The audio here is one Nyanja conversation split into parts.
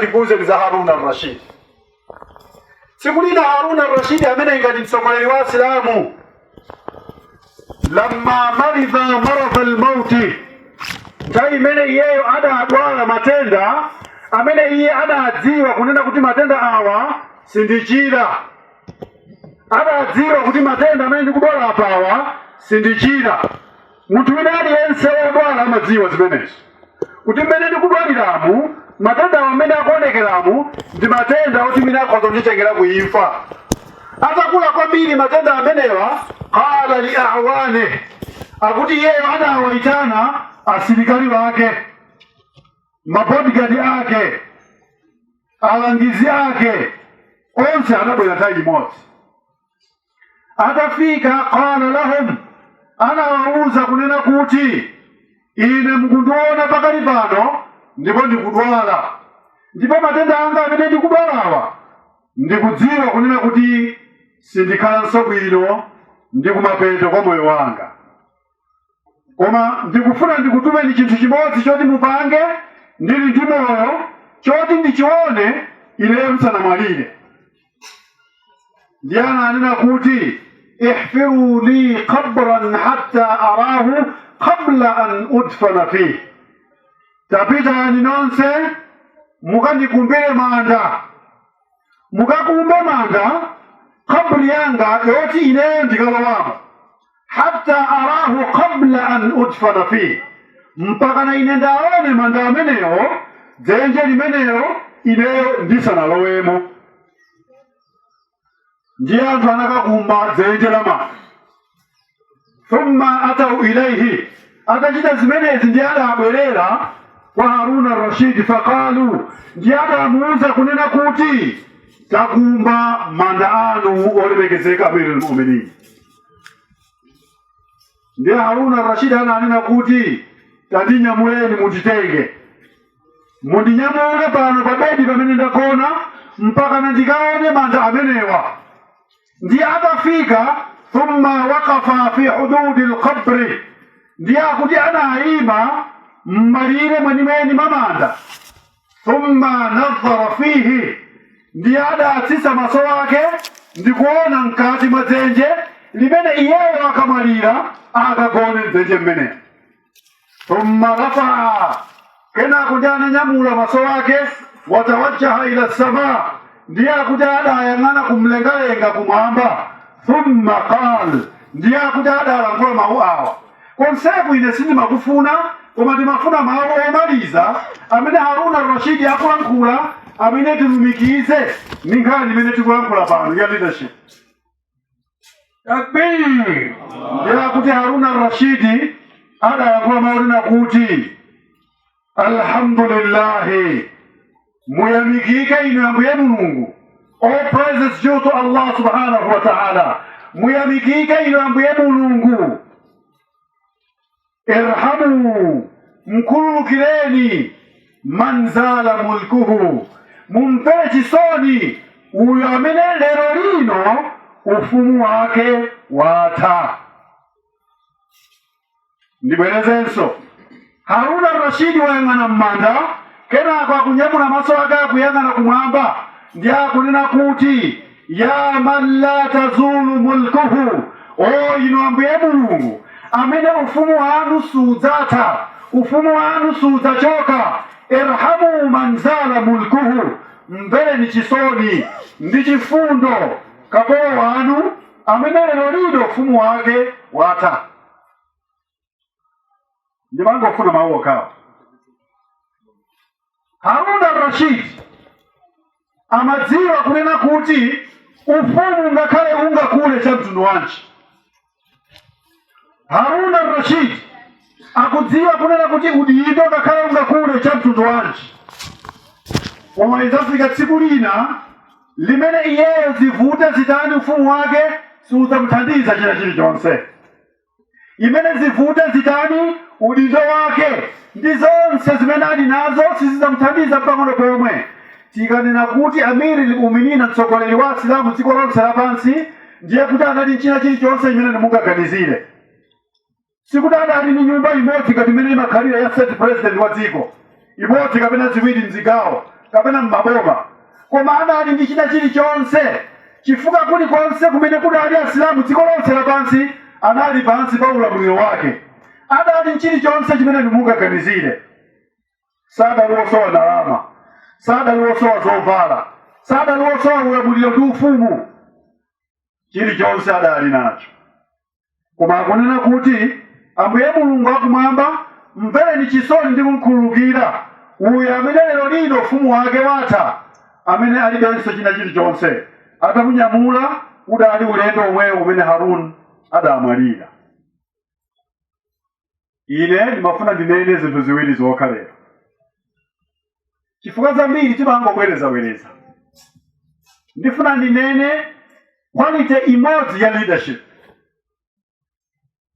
tikuwuzeni za Harun al-Rashid. Tsiku lina Harun al-Rashid amene ndi ngati mtsogoleri wa Asilamu lamma maridha maradha al-mauti, nthawi imene iyeyo adadwala matenda amene iye adadziwa kunena kuti matenda awa sindichira, adadziwa kuti matenda amene ndikudwala apawa sindichira. munthu wina aliyense wodwala amadziwa zimenezo kuti mmene ndikudwaliramu matendawa mmene akuonekeramu ndi matenda oti mwina akhoza kunditengera ku imfa atakula kwambiri matenda amenewa qala li a'wanihi akuti iyeyo anawaitana asilikali ake mabodigadi ake alangizi ake onse anabwera nthawi imodzi atafika qala lahum anawawuza kunena kuti ine mukundiona pakali pano ndipo ndikudwala ndipo matenda anga amene ndikudwalawa ndikudziwa kunena kuti sindikhalanso bwino ndi kumapeto kwa moyo wanga koma ndikufuna ndikutumeni chinthu chimodzi choti mupange ndili ndi moyo choti ndichione ineyo ndisanamwalire ndiye ananena kuti ihfiru li qabran hatta arahu qabla an udfana fihi tapitani nonse mukandikumbire manda mukakumbe manda kaburi yanga yoti ineyo ndikalowamo hatta arahu qabla an udfana fihi mpaka na ine ndaone manda amenewo dzenje limenelo ineyo ndisanalowemo ndiye anthu anakakumba dzenje la manda thumma atau ilaihi atachita zimenezi ndiye adabwerera kwa haruna rashidi faqalu ndiye adamuuza kunena kuti takumba manda anu olemekezeka amirul mu'minin ndiye haruna rashidi ananena kuti tandinyamuleni munditenge mundinyamule pano pa bedi pamene ndagona mpaka nandikaone manda amenewa ndiye atafika thumma waqafa fi hududi lqabri ndiye akuti anayima m'malire mwenimweni mwa manda thumma nadhara fihi ndiye adatsitsa maso ake ndikuona mkati mwa dzenje limene iyeyo akamwalira akagone mdzenje mmenemo thumma rafaa kenako ndiye ananyamula maso ake watawajjaha ila sama ndiye akuti adayang'ana kumlengalenga kumwamba thumma qal ndiye akuti adalankhula mawu awa konseku ine sindimakufuna koma ndimafuna mawu omaliza amene haruna rashidi akulankhula amene tilumikize ndi nkhani imene tikulankhula pano ya leadership takbir ndiye akuti haruna rashidi adayankhula mawu onena kuti alhamdulillahi muyamikike inu ambuye mulungu all praises due to allah subhanahu wa ta'ala muyamikike inu ambuye mulungu irhamu mkhululukireni man zala mulkuhu mumvere chisoni uyo amene lero lino ufumu wake watha ndibwerezenso haruna rashidi wayang'ana m'manda kenako akunyamula maso ake akuyang'ana kumwamba ndiye akunena kuti ya man la tazulu mulkuhu o inu ambuye mulungu amene ufumu wanu sudzatha ufumu wanu sudzachoka irhamu man zala mulkuhu mvereni chisoni ndi chifundo kapolo wanu amene lero lino ufumu wake watha ndimangofuna mawu okhawo haruna rashid amadziwa kunena kuti ufumu ngakhale ungakule cha mtundu wanji haruna rashid akudziwa kunena kuti udindo ngakhale ungakule cha mtundu wanji koma idzafika tsiku lina limene iyeyo zivute zitani ufumu wake siudzamuthandiza china chilichonse imene zivute zitani udindo wake ndi zonse zimene ali nazo sizidzamuthandiza mpang'ono pomwe tikanena kuti amiri limuminina mtsogoleri wa asilamu dziko lonse lapansi ndiye kuti anali nchina chilichonse imene mungaganizire sikuti adali ndi nyumba imodzi ngati imene imakhalira ya state president wa dziko imodzi kapena ziwiri mzigawo kapena mmaboma koma adali ndi china chilichonse chifukwa kulikonse kumene kudali asilamu dziko lonse lapansi anali pansi pa ulamuliro wake adali nchilichonse chimene mungaganizire sadali wosowa ndalama sadali wosowa zovala sadali wosowa ulamuliro ndi ufumu chilichonse adali nacho koma akunena kuti ambuye mulungu akumwamba mvereni chisoni ndi kumkhululukira uyo amene lero lino ufumu wake watha amene alibenso china chilichonse atamunyamula udali ulendo omwewo umene haruni adamwalira ine ndimafuna ndinene zinthu ziwiri zokha lero chifukwa zambiri timangobwerezabwereza ndifuna ndinene quality imodzi ya leadership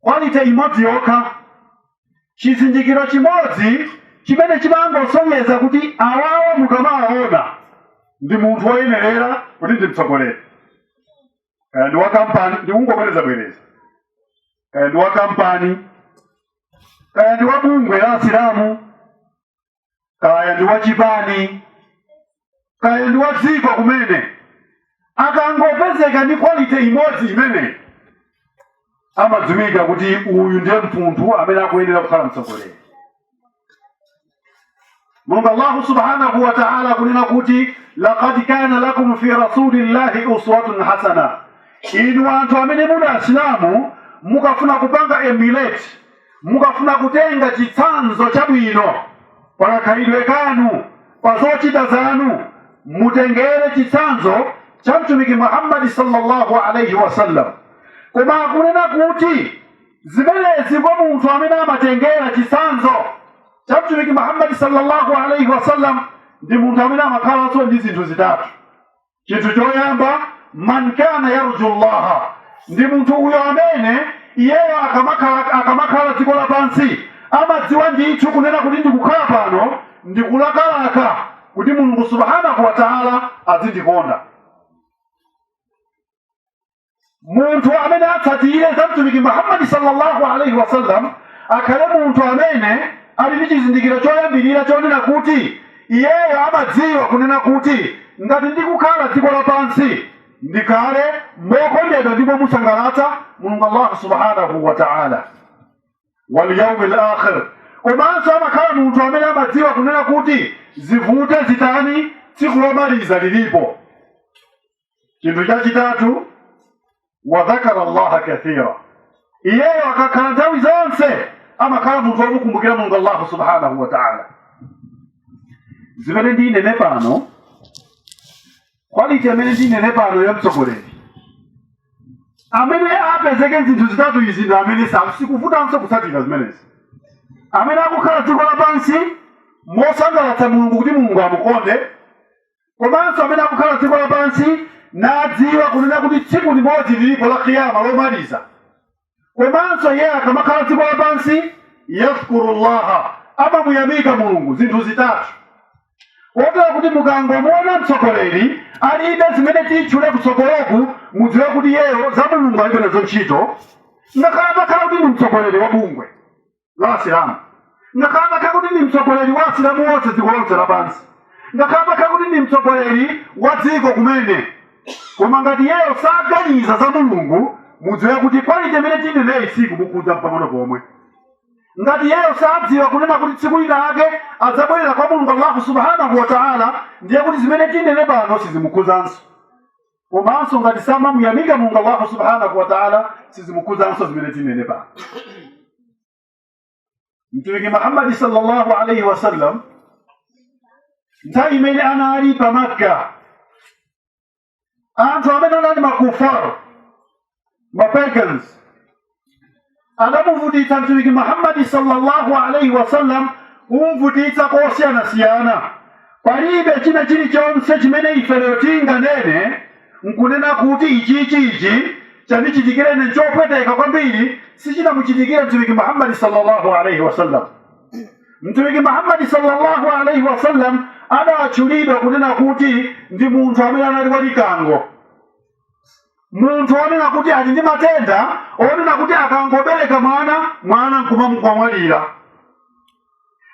quality imodzi yokha chizindikiro chimodzi chimene chimangosonyeza kuti awawa mukamawaona ndi munthu woyenerera kuti ndi mtsogoleri kaya ndi wa kampani ndikungobwereza bwereza kaya ndi wa kampani kaya ndi wa bungwe la asilamu kaya ndi wa chipani kaya ndi wa dziko kumene akangopezeka ndi quality imodzi imeneyi amadziwika kuti uyu ndiye munthu amene akuyenera kukhala mtsogoleri mulungu allahu subhanahu wa taala akunena kuti lakad kana lakum fi rasulillahi uswatun hasana inu anthu amene muli asilamu mukafuna kupanga emulate mukafuna kutenga chitsanzo chabwino pa kakhalidwe kanu pa zochita zanu mutengere chitsanzo cha mtumiki muhammadi sallallahu alaihi wasallam koma akunena kuti zimenezi kwa munthu amene amatengera chitsanzo cha mtumiki muhammadi sallallahu alaihi wasallam ndi munthu amene amakhalanso ndi zinthu zitatu chinthu choyamba man kana yarju llaha ndi munthu uyo amene iyeyo akamakhala akamakhala dziko lapansi amadziwa ndithu kunena kuti ndikukhala pano ndikulakalaka kuti mulungu subhanahu wa taala azindikonda munthu amene atsatire za mtumiki muhammadi sallallahu alaihi wasallam akhale munthu amene ali ndi chizindikiro choyambirira chonena kuti iyeyo amadziwa kunena kuti ngati ndikukhala dziko lapansi ndikhale mokondedwa ndipo momusangalatsa mulungu allahu subhanahu wa taala walyaumi lakhir komanso amakhala munthu amene amadziwa kunena kuti zivute zitani tsiku lomaliza lilipo chinthu chachitatu wadhakara allaha kathira iyeyo akakhala nthawi zonse amakhala munthu womukumbukira mulungu allahu subhanahu wa taala zimene ndinene pano quality imene ndinene pano ya mtsogoleri amene apezeke zinthu zitatu izi ndi amene sa- sikuvutanso kutsatira zimenezi amene akukhala dziko lapansi mosangalatsa mulungu kuti mulungu amukonde komanso amene akakhala dziko lapansi nadziwa kunena kuti tsiku limodzi lilipo la kiyama lomaliza komanso iye akamakhala dziko lapansi yadhkurullaha amamuyamika mulungu zinthu zitatu kotero kuti mukangomuona mtsogoleri alibe zimene titchule kutsogoloku mudziwe kuti iyeyo za mulungu alibe nazo ntchito ngakhale atakhala kuti ndi mtsogoleri wa bungwe la asilamu ngakhale atakhala kuti ndi mtsogoleri wa asilamu onse dziko lonse lapansi ngakhale atakhala kuti ndi mtsogoleri wa dziko kumene koma ngati iyeyo saganiza za mulungu mudziwe kuti quality imene tineneyi sikumukhudza mpang'ono pomwe ngati iyeyo sadziwa kunena kuti tsiku lina lake adzabwerera kwa mulungu allahu subhanahu wa taala ndiye kuti zimene tinene pano sizimukhudzanso komanso ngati samamuyamika mulungu allahu subhanahu wataala sizimukhudzanso zimene tinene pano mtumiki muhammadi sallallahu alaihi wasallam nthawi imene anali pa makka anthu amene anali makufar mapagans adamuvutitsa mtumiki muhammadi sallallahu alaihi wasallam kumvutitsa kosiyanasiyana palibe china chilichonse chimene ife lero tinganene nkunena kuti ichichi ichi chandichitikira ine nchopweteka kwambiri sichinamuchitikire mtumiki muhammadi sallallahu alaihi wasallam mtumiki muhammadi sallallahu alaihi wasallam adatchulidwa kunena kuti ndi munthu amene anali walikango munthu wonena kuti ali ndi matenda onena kuti akangobereka mwana mwana nkumangomwalira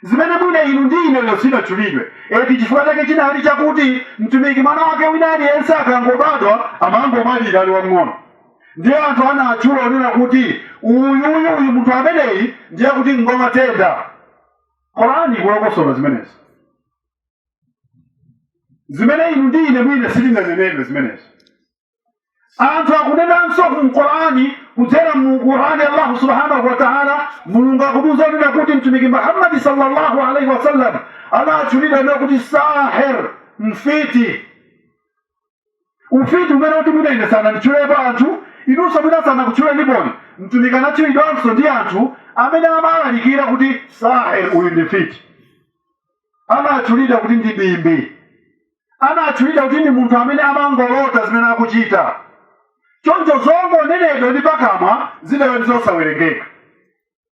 zimene mwina inu ndi ineyo sitinatchulidwe eti chifukwa chake chinali chakuti mtumiki mwana wake wina aliyense akangobadwa amangomwalira ali wamng'ono ndiye anthu anatchula kunena kuti uyuyu uyu munthu ameneyi ndiye kuti ngwamatenda korani kulongosola zimenezi zimene inu ndi ine mwina sitinanenedwe zimenezi anthu akunenanso mu qurani kudzera mu qurani allahu subhanahu wa taala mulungu akutiuza kunena kuti mtumiki muhammadi sallallahu alaihi wasallam anatchulidwa kunena kuti sahir mfiti ufiti umene kuti mwina ine sananditchulepo anthu inunso mwina sanakutchuleniponi mtumiki anatchulidwanso ndi anthu amene amawalalikira kuti sahir uyu ndi mfiti anatchulidwa kuti ndi bimbi anatchulidwa kuti ndi munthu amene amangolota zimene akuchita choncho zongonenedwa ndi pakamwa zidali zosawerengeka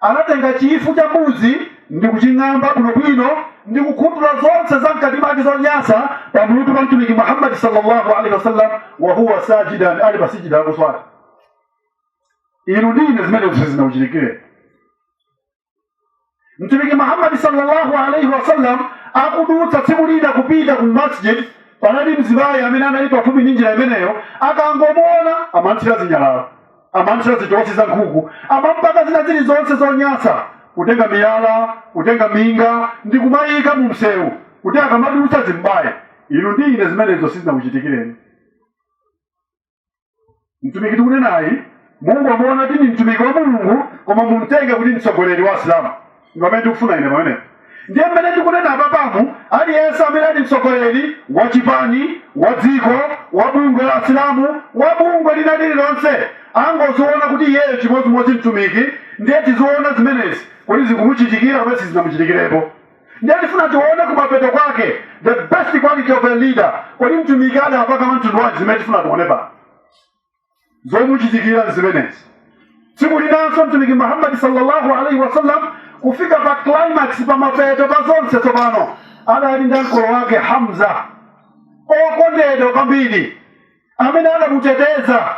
Anatenga chifu cha mbuzi ndi kuching'amba bwinobwino ndi kukhutula zonse za mkati mwake zonyasa pa mutu pa Mtumiki Muhammad sallallahu alaihi wasallam, wa huwa sajidan, ali pa sijida akuswali. Inu ndi ine zimenezo sizinakuchitikireni. Mtumiki Muhammad sallallahu alaihi wasallam akudutsa tsiku lina kupita ku masjid, panali mzimayi amene anali pafupi ndi njira imeneyo, akangomuona amanthira zinyalala amamthira zitosi za nkhuku amampaka zina zilizonse zonyasa kutenga miyala kutenga minga ndi kumayika mu msewu kuti akamadutsa zimbaye inu ndi ine zimenezo sizinakuchitikireni mtumiki tikunenayi musangomuona kuti ndi mtumiki wa mulungu koma mumtenge kuti mtsogoleri wa asilamu Mpamene tikufuna ine pamenepo. Ndiye mmene tikunena apapamu, aliyense amene ali mtsogoleri wa chipani, wa dziko, wa bungwe la Asilamu, wa bungwe lina lililonse, angoziona kuti iyeyo chimodzimodzi mtumiki, ndiye tiziona zimenezi kodi zikumuchitikira kapena sizinamuchitikirepo. Ndiye tifuna tione kumapeto kwake, the best quality of a leader, kodi mtumiki adapanga mwa mtundu wanji zimene tifuna tione pano. zomuchitikira zimenezi tsiku linanso mtumiki muhammadi sallallahu alaihi wasallam kufika pa climax pa mapeto pa zonse tsopano adali ndi mkolo wake hamza okondedwa kwambiri amene adamuteteza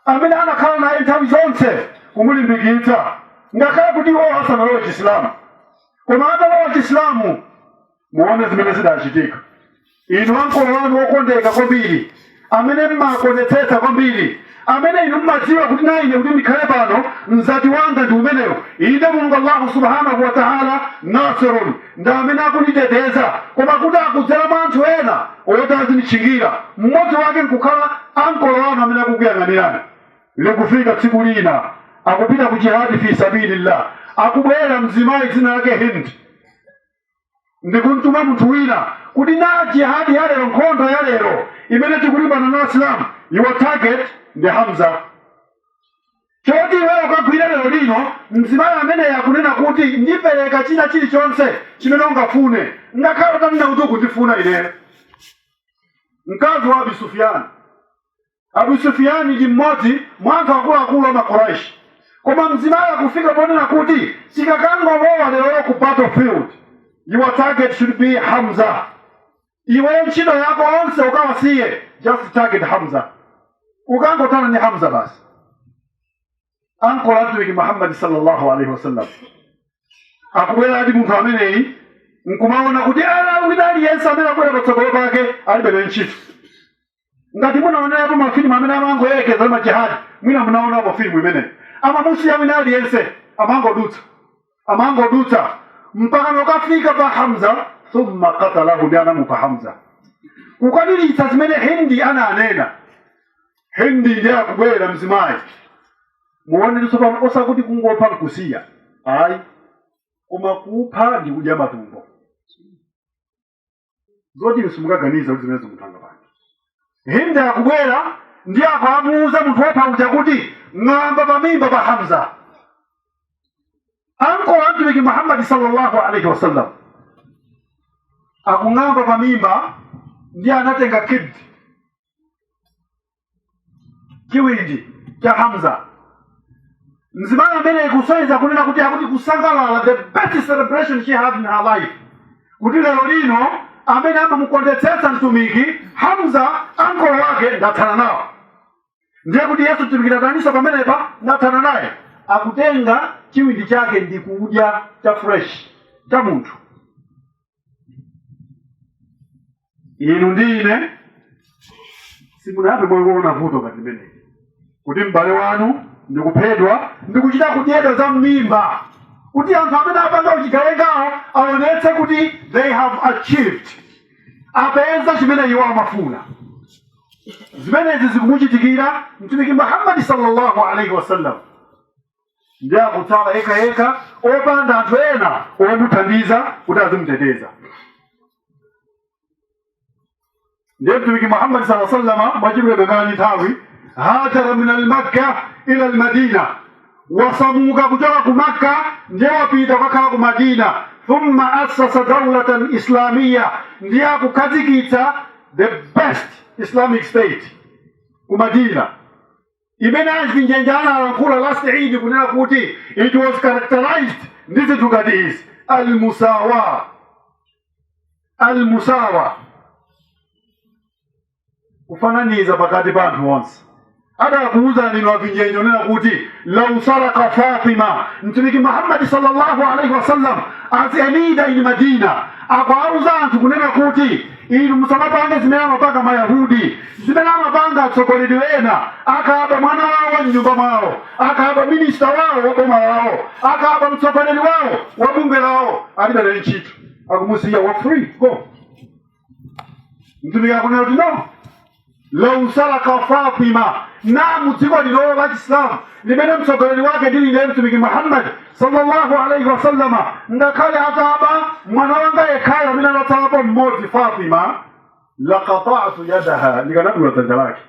amene anakhala naye nthawi zonse kumulimbikitsa ngakhale kuti iwo asanalowe chisilamu koma atalowa chisilamu muone zimene zidachitika inu ankolo wanu wokondeka kwambiri amene mmakondetsetsa kwambiri amene inu mmadziwa kuti na ine kuti ndikhale pano mzati wanga ndi umeneyo inde mulungu allahu subhanahu wataala nasirun ndi amene akunditeteza koma kuti akudzera mwa anthu ena oti azinditchingira mmodzi wake nkukhala ankolo wanu amene akukuyang'anirani likufika tsiku lina akupita ku jihadi fi sabilillah akubwera mzimayi dzina lake hindi ndikumtuma munthu wina kuti na jihadi ya lero nkhondo ya lero imene tikulimbana na asilamu your target ndi hamza choti iweyo ukagwire lero lino mzimayi amene akunena kuti ndipereka china chilichonse chimene ungafune ngakhale utanena kuti ukundifuna ineyo mkazi wa abi sufiyani abu sufiyani ndi mmodzi mwa anthu akuluakulu a makuraishi koma mzimayi akufika ponena kuti sikakangolowa lero ku battlefield your target should be hamza iweyo ntchito yako onse ukawasiye just target hamza ukangothana ndi hamza basi ankolo a mtumiki muhammadi sallallahu alaihi wasallam akubwera ati munthu ameneyi nkumaona kuti ala wina aliyense amene akubwera patsogolo pake alibe naye ntchito ngati munaonapo mafilimu amene amangoyerekeza majihadi mwina munaonapo filimu imeneyi amamusiya wina aliyense amangodutsa amangodutsa mpaka nokafika pa hamza thumma katalahu ndi anamupha hamza kukwaniritsa zimene hindi ananena hindi ndiye akubwera mzimayi muone osakuti kungopha nkusiya ayi koma kupha ndi kudya matumbo zoti simukaganiza kuti zimene munthu angapange hindi akubwera ndiye akamuuza munthu wopha uja kuti ng'amba pamimba pa hamza ankolo a mtumiki muhammadi sallallahu alaihi wasallam akung'amba pamimba ndiye anatenga kibdi chiwindi cha hamza mzimayi ameneyu kusonyeza kunena kuti akuti kusangalala the best celebration she had in her life kuti lero lino amene amamukondetsetsa mtumiki hamza ankolo wake ndathana nawo ndiye kuti iyeyu mtumiki ataninso pamenepa ndathana naye akutenga chiwindi chake ndi kudya cha fresh cha munthu inu ndi ine simunayambe mwaona vuto ngati limeneli kuti m'bale wanu ndi kuphedwa ndi kuchita kudyedwa za m'mimba kuti anthu amene apanga uchigawengawo aonetse kuti they have achieved apeza chimene iwo amafuna zimenezi zikumuchitikira mtumiki muhammadi sallallahu alaihi wasallam ndiye akutsala yekha yekha opanda anthu ena omuthandiza kuti azimuteteza ndiye mtumiki muhammadi saa sallama mwachidule penapake nthawi hajara min almakka ila almadina wasamuka kuchoka ku makka ndiye wapita kukakhala ku madina thumma assasa daulatan islamiya ndiye akukhazikitsa the best islamic state ku madina imene achinjenje analankhula last eid kunena kuti it was characterized ndi zinthu ngati izi almusawa almusawa kufananiza pakati pa anthu onse adakuwuzani inu achinjenje kunena kuti lau saraka fatima mtumiki muhammadi sallallahu alaihi wasallam as a leader in madina akuwauza anthu kunena kuti Inu musamapange zimene amapanga Mayahudi, zimene amapanga atsogoleri ena, akaba mwana wawo wa mnyumba mwawo, akaba minista wawo wa boma lawo, akaba mtsogoleri wawo wa bungwe lawo, alibe naye ntchito, akumusiya wa free go. Mtumiki akunena kuti no, lau saraka fatima na mu dziko ilolo la chisilamu limene mtsogoleri wake ndili ndiye mtumiki muhammad sallallahu alaihi wasallama ngakhale ataba mwana wanga yekhayo amene anatsalapo mmodzi fatima lakatatu yadaha ndikanadula dzanja lake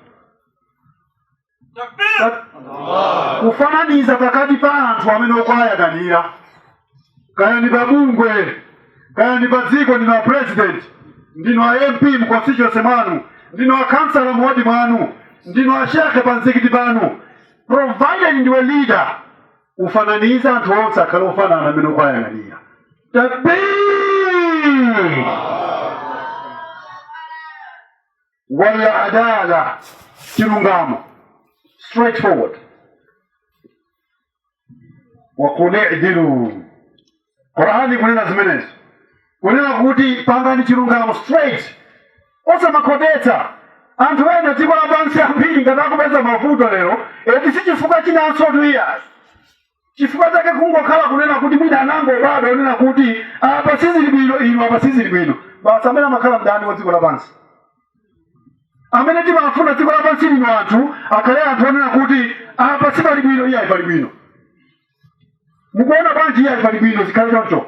kufananiza pakati pa anthu amene ukuwayang'anira kaya ndi pa bungwe kaya ndi pa dziko ndino a president ndino a mp mu constituency mwanu ndino a councilor mu ward mwanu ndino a shekhe pa mzikiti panu provided ndiwe leader kufananiza anthu onse akhale ofanana amene ukuwayang'anira takbir wal adala chilungamo straightforward waqul i'dilu qur'ani ikunena zimenezo kunena kuti pangani chilungamo straight osamakhotetsa anthu a dziko lapansi ambiri ngati akupeza mavuto lero eti si chifukwa chinanso tuyasi chifukwa chake kungokhala kunena kuti mwina akangobwera onena kuti apa sizili bwino inu apa sizili bwino basi amene amakhala mdani wa dziko lapansi amene timafuna dziko lapansi lino anthu akhale anthu onena kuti apa sipali bwino iye ayi pali bwino mukuona bwanji iye ayi pali bwino zikhale choncho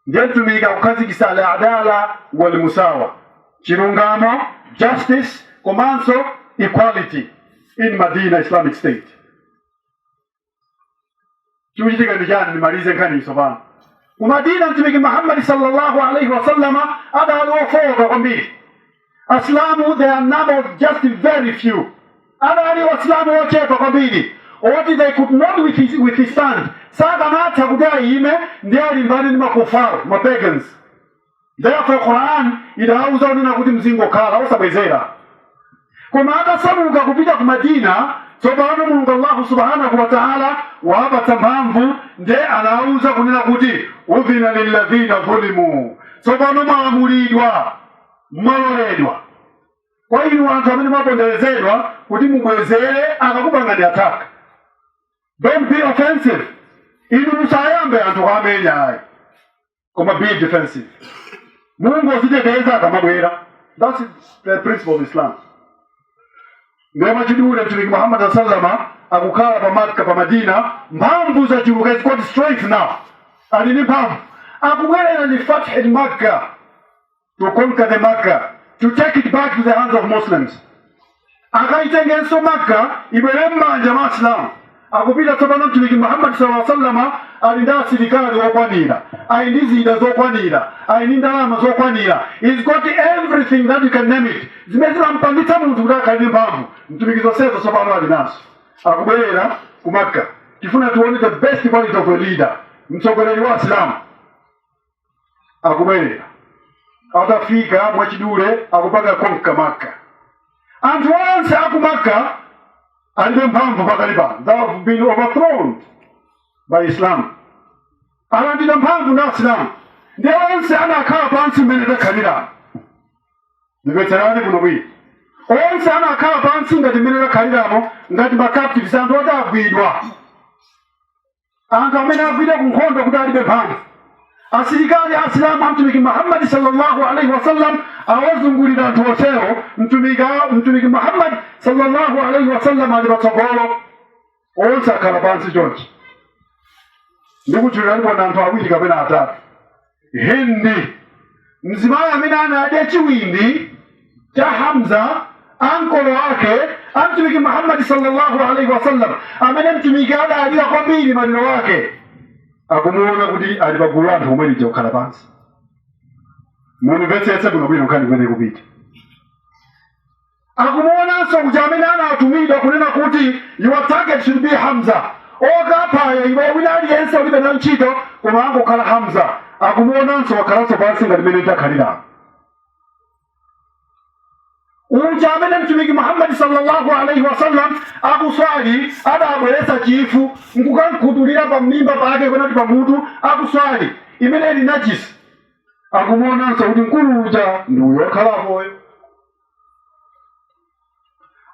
ndiye mtumiki akukhazikitsa al adala wal musawa chilungamo justice komanso equality in madina islamic state chikuchitika ndi chani ndimalize nkhani tsopano ku madina mtumiki muhammadi sallallahu alaihi wasallama adali wofowoka kwambiri asilamu they are numbered just very few adali asilamu ochepa kwambiri oti they could not with- withstand sakanatha kuti ayime nde alimbane ndi makufaru mapagans therefore quran idawauza kunena kuti mzingokhala osabwezera koma atasamuka kupita ku madina tsopano mulungu allahu subhanahu wataala wapatsa mphamvu nde anawuza kunena kuti udhina lilladhina dhulimu tsopano mwalamulidwa mwaloledwa kwa inu anthu amene mwaponderezedwa kuti mubwezere akakupangani attack don't be offensive inu musayambe anthu kuwamenya ayi koma be defensive mungodziteteza akamabwera that's the principle of islam nde mwachidule mtumiki muhammad saa salama akukhala pa makka pa madina mphamvu zachuluka he's got strength now ali ndi mphamvu akubwerera ndi fathi makka to conquer the Makkah, to take it back to the hands of Muslims. akaitengenso maka ibwere m'manja mwa asilamu akupita tsopano mtumiki muhammadi sala sallama ali ndi asilikali okwanira ali ndi zida zokwanira ali ndi ndalama zokwanira he's got everything that you can name it zimene zimampangitsa munthu kuti akhale ndi mphamvu mtumiki zonsezo tsopano ali nazo akubwerera ku makka tifuna tione the best quality of a leader mtsogoleri wa asilamu akubwerera atafika mwachidule akupanga konka maka anthu onse akumaka alibe mphamvu pakali pano they have been overthrown by islam alandidwa mphamvu ndi asilamu ndiye onse anakhala pansi mmene takhaliramo ndimvetsereni kuno bwino onse anakhala pansi ngati mmene takhaliramo ngati ma captives anthu oti agwidwa anthu amene agwidwa ku nkhondo kuti alibe mphamvu asilikali asilamu amtumiki muhammadi sallallahu alaihi wasallam awazungulira anthu onsewo mtumiki muhammadi sallallahu alaihi wasallam ali patsogolo onse akhala pansi chonchi ndikutchuliranipo anthu awiri kapena atatu Hindi, mzimayi amene anadya chiwindi cha Hamza ankolo wake a Mtumiki Muhammad sallallahu alaihi wasallam, amene Mtumiki adalira kwambiri maliro wake, akumuona kuti ali pa gulu la anthu omwe lija kukhala pansi. Mundimvetsetse kuno bwino nkhani kumene ikupita. akumuonanso kuti uja amene anatumidwa kunena kuti your target should be hamza okaphayo iwe wina aliyense ulibe nayo ntchito koma angokhala hamza akumuonanso wakhalanso pansi ngati mmene takhalira uja amene mtumiki muhammadi sallallahu alaihi wasallam akuswali adabweretsa chifu nkukamkhuthulira pa mmimba pake kunati pa mutu akuswali imene ili najisi akumuonanso kuti mkulu uja ndi uyo wakhala apoyo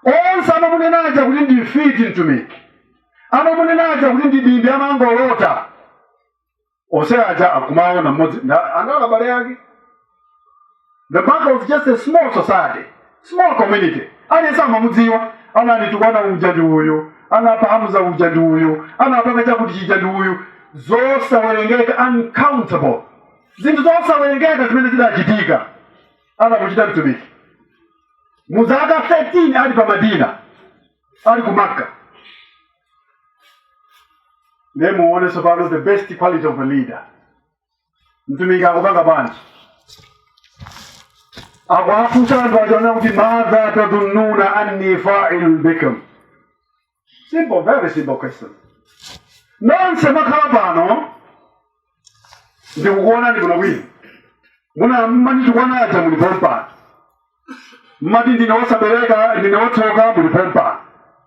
onse amamunena aja kuti ndi mfiti mtumiki amamunena aja kuti ndi bimbi amangolota onse aja akumuona mmodzi nda- anali abale ake the maka was just a small society small community aliyense amamudziwa ananditukana uja ndi uyu anapha hamza uja ndi uyu anapanga chakuti chija ndi uyu zosawerengeka uncountable zinthu zosawerengeka zimene zidachitika anamuchita mtumiki mu zaka 13 ali pa madina ali ku makka ndiye muone tsopano the best quality of a leader mtumiki akupanga bwanji akuwafunsa anthu achewa kuti madha tadhununa anni failun bikum simple very simple question nonse makhala pano ndikukuonani kuno bwino amuna mmanditukwana muli pompano mmati ndine wosabereka ndine wotsoka muli pompano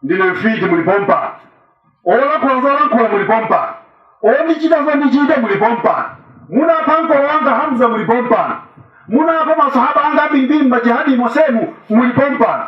ndine mfiti muli pompano olakhula zolakhula muli pompano ondichita zondichita muli pompano munapha ankolo anga hamza muli pompano munapha masahaba anga ambirimbiri mmajihadi mosemu muli pompano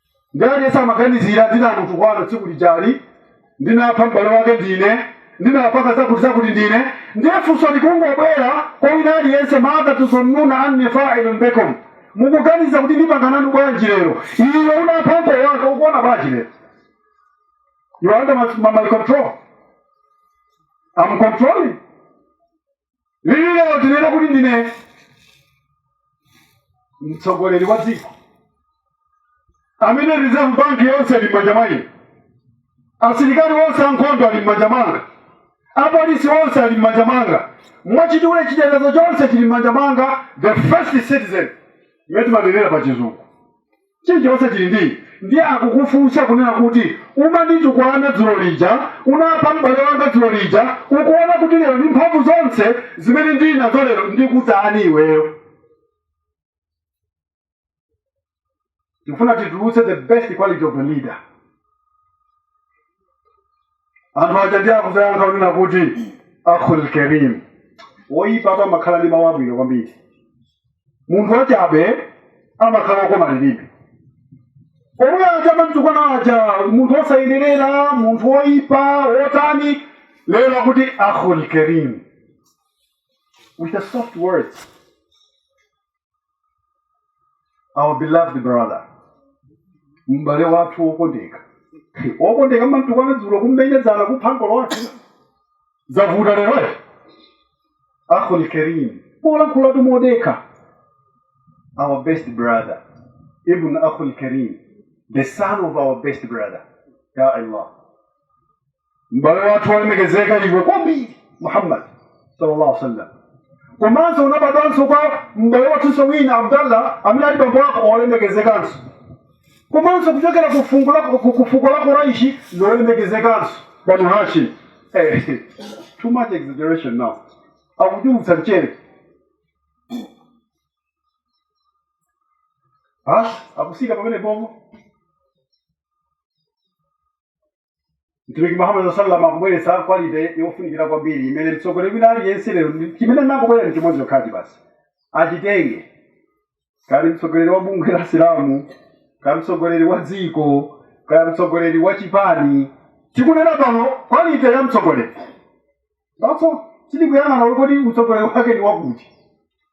ndiye aliyense amaganizira ndinamutukwana tsiku lijali ndinapha m'bale wake ndine ndinapaka zakuti zakuti ndine ndiye funso likungobwera kwa wina aliyense madha tadhunnuna anni failun bikum mukuganiza kuti ndipanga nanu bwanji lero iwe unapha ankolo ake ukuona bwanji lero you are under my, my, my control I'm controlling lili lero tinena kuti ndine mtsogoleri wa dziko amene reserve bank yonse ili m'manja mwa ine asilikali onse ankhondo ali m'manja mwanga apolisi onse ali m'manja mwanga mwachidule chitetezo chonse chili m'manja mwanga the first citizen imene timanenera pa chizungu Chilichonse chili ndii. Ndiye akukufunsa kunena kuti umanditukwana dzulo lija, unapha m'bale wanga dzulo lija, ukuona kuti lero ndi mphamvu zonse zimene ndili nazo lero ndikutani iweyo? Tikufuna titulutse the best quality of a leader. anthu aja ndiye akuzayankha kunena kuti akhul karim woyipa apa amakhala ndi mawu abwino kwambiri munthu wachabe amakhala okoma lilime omwe aja amamtukwana aja munthu wosayenerera munthu woyipa wotani lero akuti akhul karim with a soft words our beloved brother m'bale wathu wokondeka wokondeka mmamtukwana dzulo kummenya dzana kupha ankolo ake zavuta leroyo akhul karim polankhulatu modekha our best brother ibn akhul karim the son of our best brother ya allah m'bale wathu olemekezeka iwe kwambiri muhammad sallallahu alaihi wasallam komanso unabadwanso kwa m'bale wathunso wina abdallah amene ali bambo wako olemekezekanso komanso kuchokera ku fungu la- ku- ku fuko la kuraishi lolemekezekanso banu hashim Eh, too much exaggeration now akuchulutsa mchere akusika pamene bongo mtumiki muhammad sallam akubweretsa kwalite yofunika kwambiri imene mtsogoleri wina aliyense lero ndi- chimene nakubwera nchimodzi yoti basi achitenge kaya mtsogoleri wa bungwe la chisilamu kaya mtsogoleri wa dziko kaya mtsogoleri wa chipani tikunena pano kwalite ya mtsogoleri Apo sitikuyang'ana kuti kodi utsogoleri wake ndi wa kuti.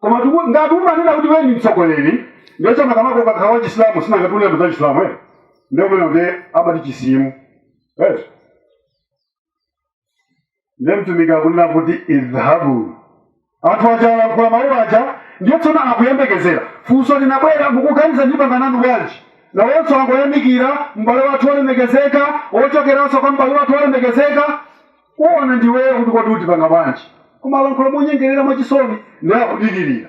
Koma tiku- ngati umanena kuti wewe ndi mtsogoleri, ndiye chama kama kwa kakhala Chisilamu sina ngati ukunena za Chisilamu eh. Ndio maana ndiye abati chisimu. Eh. Ndiye mtumiki akunena kuti idhabu anthu aja alankhula mawu aja ndiye tsono akuyembekezera funso linabwera mukuganiza ndipanga nanu bwanji nawonso angoyamikira m'bale wathu wolemekezeka wochokeranso kwa m'bale wathu wolemekezeka kuona ndiweyo kuti kodi utipanga bwanji koma akulankhula monyengerera mwachisoni ndiye akudikirira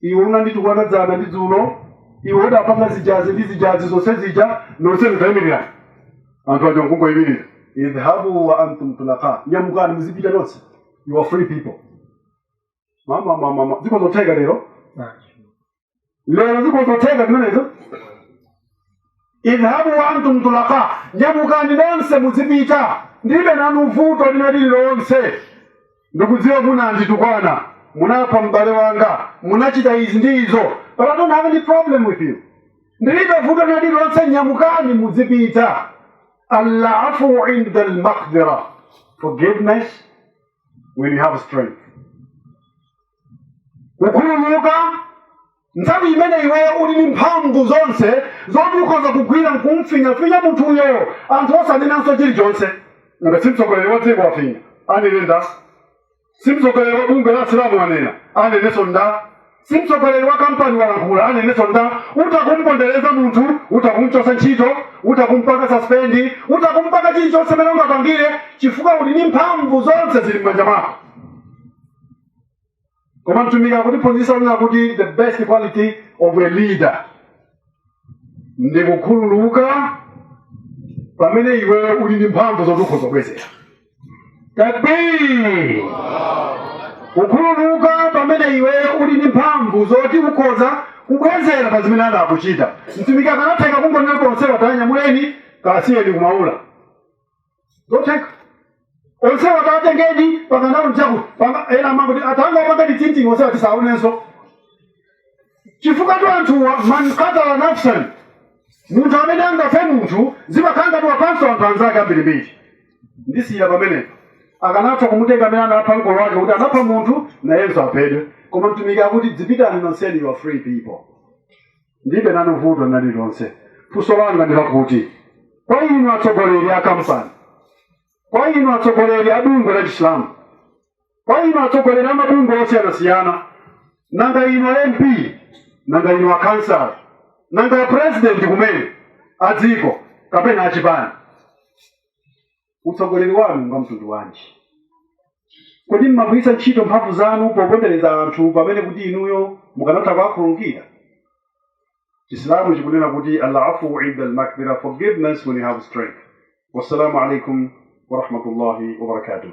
iwe unanditukwana dzana ndi dzulo iwe udapanga zijazi ndi zijazi zonse zija nonse mutaimirira anthu aja nkungoimirira idhhabu wa antum tulaka nyamukani muzipita nonse you are free people mama mama mama ziko nzotheka lero lero ziko nzotheka zimenezo idhhabu wa antum tulaka nyamukani nonse muzipita ndilibe nanu vuto lina lililonse ndikudziwa munanditukwana munapha m'bale wanga munachita izi ndi izo but i don't have any problem with you ndilibe vuto lina lililonse nyamukani muzipita alafu inda almaqdira forgiveness when you have strength kukhululuka nthawi imene iweyo uli ndi mphamvu zonse zoti ukhoza kugwira nkumfinyafinya munthuyo anthu osanenanso chilichonse nanga si mtsogoleri wa dziko wafinya anene nda si mtsogoleri wa bungwe la asilamu wanena anenenso nda si mtsogoleri wa kampani walankhula anenenso nda utha kumpondereza munthu utha kumchosa ntchito utha kumpanga saspendi utha kumpanga chilichonse mene ungapangire chifukwa uli ndi mphamvu zonse zili m'manja mwako koma mtumiki akutiphunzitsa kunena kuti the best quality of a leader ndi kukhululuka pamene iwe uli ndi mphamvu zoti ukhoza kubwezera takbir kukhululuka pamene iwe uli ndi mphamvu zoti ukhoza kubwezera pa zimene anakuchita mtumiki akanatheka kungonena onsewa tanyamuleni kasiyeni kumaula zotheka onsewa tatengeni pakandaonjaku ena amangoti atanga apanga ditinting onsewa tisaonenso chifukwa tu anthuwa man katala nafsan munthu amene angaphe munthu zimakhala ngati waphanso anthu anzake ambirimbiri ndisiyira pamenepo akanatha kumutenga amene anapha mkolo wake kuti anapha munthu nayenso aphedwe koma mtumiki akuti dzipitani nonseni you are free people ndibe nanu vuto nali lonse funso langa ndi lakuti kwa inu atsogoleri a kampani kwa inu atsogoleri a bungwe la chisilamu kwa inu atsogoleri a mabungwe osiyanasiyana nanga inu a mp nanga inu a kansala nanga a president kumene a dziko kapena a chipani utsogoleri wanu ngwa mtundu wanji kodi mmagwiritsa ntchito mphamvu zanu popondereza anthu pamene kuti inuyo mukanatha kuwakhululukira chisilamu chikunena kuti alafu inda almakdira forgiveness when you have strength wassalamu alaikum warahmatullahi wabarakatuh